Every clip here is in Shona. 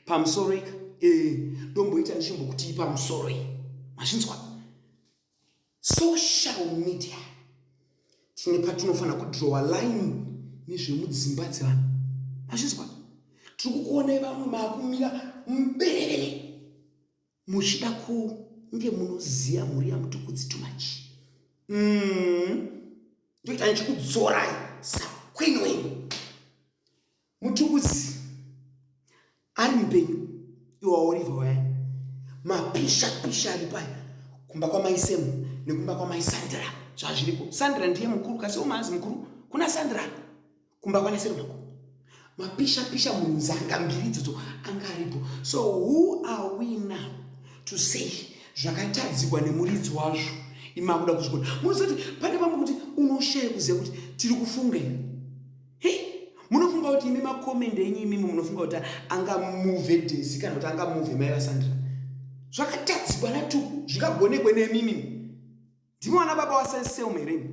pamusoro ika eh, ndomboita ndichimbokutii pamusoro iyi mazvinzwa social media tine patinofanira kudrowa line nezvemudzimba dzevanhu mazvinzwa tiri kukuonai vamwe maakumira muberevere muchida kunge munoziva mhuri yamutukudzi too much mm. ndoita ndichikudzorai sakwini wenyu Mutukudzi ari mupenyu iwe waOliver wayani. Mapisha pisha ari paya kumba kwamai Sam nekumba kwamai Sandra zvazviriko. Sandra ndiye mukuru kasi umazi mukuru kuna Sandra kumba kwana Sam mako. Mapisha pisha munzanga mbiri idzodzo anga aripo. So who are we now to say zvakatadzikwa nemuridzi wazvo imakuda kuzvikona. Munozoti pane vamwe kuti unoshaya kuziva kuti tiri kufunga hei munofunga kuti imi makomende enyu imimi munofunga kuti angamuve desi kana kuti angamuve mai vasandra zvakatadzikwa natuku zvingagonekwe nemimi ndimi vana baba wasaiseume here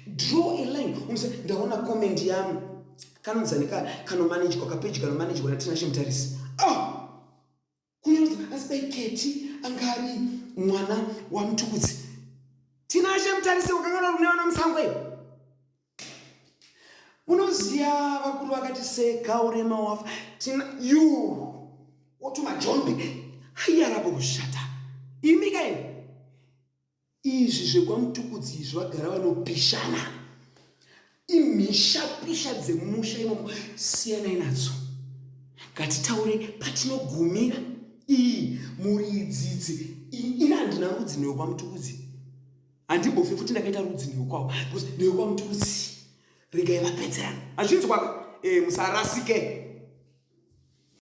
draw a line unose ndaona comment yami kanonzani ka kanomanejwa kapeji kanomanejwa natinashe mutarisi oh! kunyanzi asi dai keti anga ari mwana wamutukudzi tinashe mutarise wakangana rune vana musango iyo unoziva vakuru vakati seka urema wafa tina yu wotuma jombi aiyarapo kushata imi kaini Izvi zvekwaMtukudzi izvi vagara vanopishana. Imhishapisha dzemumusha imomo siyanai nadzo. Ngatitaure patinogumira iyi mhuri idzidzi ini handina rudzi newekwaMtukudzi. Handimbofe futi ndakaita rudzi newekwavo because newekwaMtukudzi regai vapedzerana. Hazvinzwaka eh, musarasike.